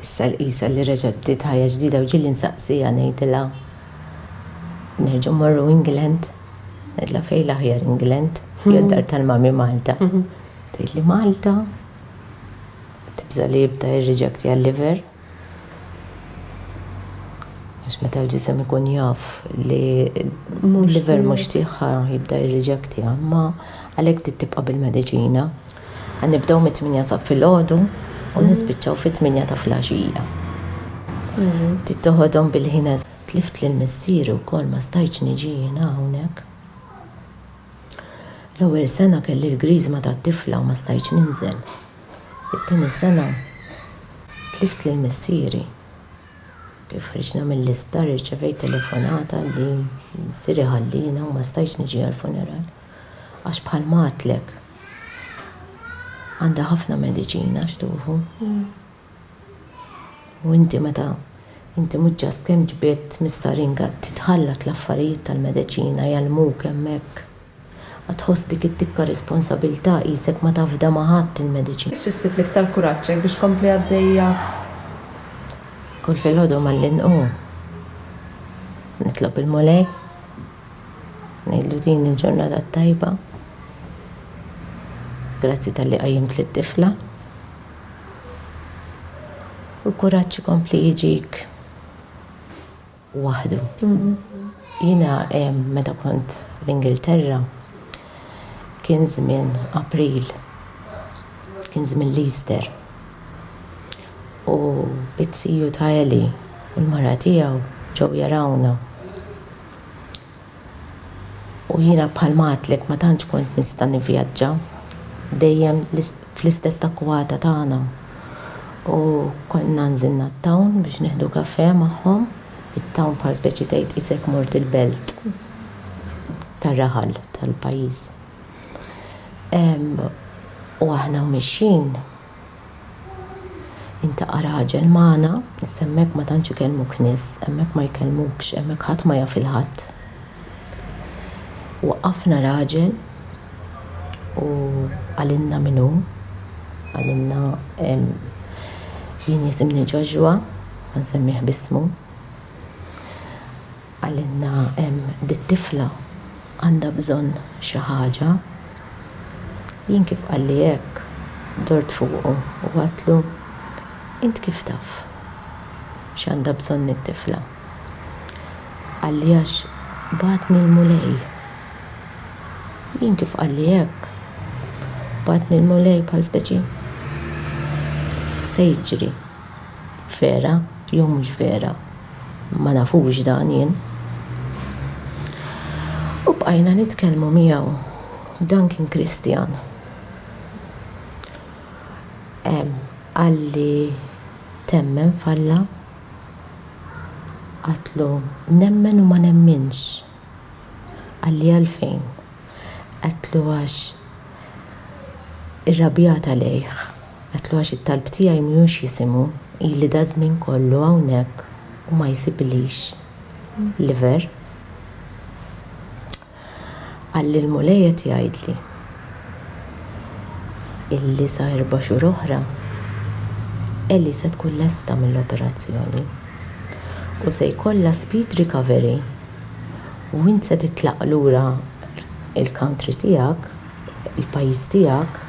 Issa l-qisha li reġgħet bdiet ħajja ġdida u ġieli nsaqsiha ngħidilha nerġgħu mmorru England. Ngħidilha fejn l-aħjar England? Jew d-dar tal-mami Malta. Tgħidli Malta? Tibża' li jibda jirriġektja l-liver. Għax meta l-ġisem ikun jaf li l-liver mhux tieħha jibda jirriġektja. Imma għalhekk trid tibqa' bil-mediċina. Ħa nibdew mit-tmienja ta' filgħodu u nispiċċaw fit-tmienja ta' flaxija. Trid toħodhom bil-ħin eżatt. Tlift lil missieri wkoll ma stajtx niġi jiena hawnhekk. L-ewwel sena kelli l-griżma tat-tifla u ma stajtx ninżel. It-tieni sena tlift lil missieri. Kif ħriġna mill-isptar irċevejt telefonata li missieri ħalliena u ma stajtx niġi għall-funeral. Għax bħalma għedtlek, Għandha ħafna mediċina x'tuhu. U inti meta inti mhux just kemm ġbidt mistarin qagħad titħallat l-affarijiet tal-mediċina jgħallmuk hemmhekk. Għad tħoss dik id-dikka responsabilità qisek ma tafda ma' ħadd il-mediċina. Xi ssib l-iktar kuraġġ hekk biex tkompli għaddejja? Kull filgħodu malli nqum nitlob il-Mulej. Ngħidlu din il-ġurnata t-tajba. Grazzi tal-li qajjimt lit-tifla. U l-kuraġġ ikompli jiġik waħdu. Jiena meta kont l-Ingilterra kien żmien April, kien żmien l-Easter. U t-tiju ta' Ellie u l-mara tiegħu ġew jarawna. U jiena bħalma għadtlek ma tantx kont nista' nivvjaġġa, dejjem fl-istess akkwata tagħna. U kont nanżil nat-town biex nieħdu kafè magħhom, it-town bħal speċi tgħid qisek mort il-belt tar-raħal tal-pajjiż. U aħna u mixjin, Intaqa' raġel magħna, issa hemmhekk ma tantx ikellmuk nies, hemmhekk ma jkellmukx, hemmhekk ħadd ma jaf il-ħadd. Waqqafna raġel u qalilna min hu, qalilna, Jien jisimni Joshua, ma nsemmih b'ismu. Qalilna hemm dit-tifla għandha bżonn xi ħaġa. Jien kif qalli hekk, dort fuqu u għadtlu, Int kif taf x'għandha bżonn it-tifla? Qalli għax bagħatni l-Mulej. Jien kif qalli hekk, bagħatni l-Mulej bħal speċi? Se jiġri? Vera jew mhux vera, ma nafux dan jien. U bqajna nitkellmu miegħu. Dan kien Kristjan. Qalli, Temmen f'Alla? Għedtlu, Nemmen u ma nemminx. Qalli, Għalfejn? Għedtlu għax irrabjat għalejh. Għedtlu għax it-talb tiegħi mhux jisimgħu. Ili daż-żmien kollu hawnhekk u ma jsiblix liver. Qalli l-Mulej qed jgħidli illi sa erba' xhur oħra Ellie se tkun lesta mill-operazzjoni u se jkollha speed recovery. u int se titlaq lura l-country tiegħek, il-pajjiż tiegħek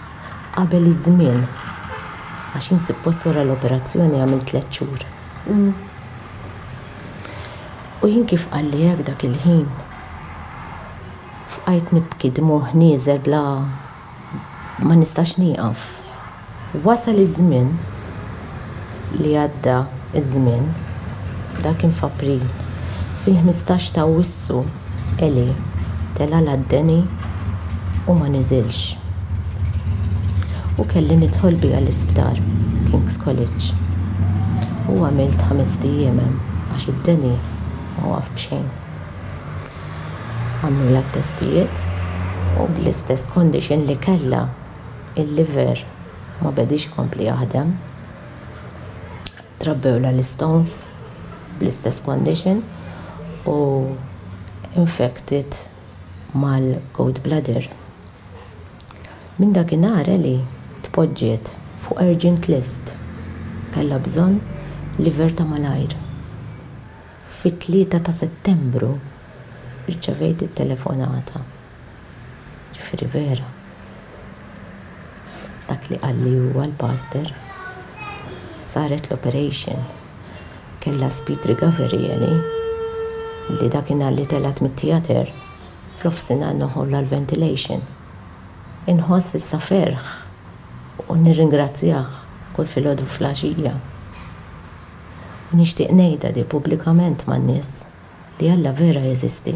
qabel iż-żmien. Għax int suppost wara l-operazzjoni għamilt tliet xhur. U jien kif qalli hekk dak il-ħin, fqajt nibki dmugħ nieżel bla Ma nistax nieqaf. Wasal iż-żmien li għadda ż-żmien. Dak kien f'April. Fil-ħmistax t'Awwissu Eli tela' l-għad-deni u ma niżilx. U kelli nidħol biha l-isptar, King's College. U għamilt ħamest ijiem hemm għax id-deni ma waqaf b'xejn. għamlulha t-testijiet u bl-istess condition li kellha il-liver ma bediex ikompli jaħdem. Trabbewlha l-istones bl-istess condition u infected mal-gallbladder. Minn dakinhar Ellie tpoġġiet fuq urgent list. Kellha bżonn liver ta' malajr. Fit-tlieta ta' Settembru rċevejt it-telefonata, jiġifieri vera dak li qalli huwa l-pastor, saret l-operation, kellha speed recovery Ellie, li dakinhar li telgħet mit-theatre f'nofsinhar noħolha l-ventilation. Inħoss issa ferħ u nirringrazzjah kull filgħodu u filgħaxija. U nixtieq ngħidha di pubblikament man-nies, li Alla vera jeżisti.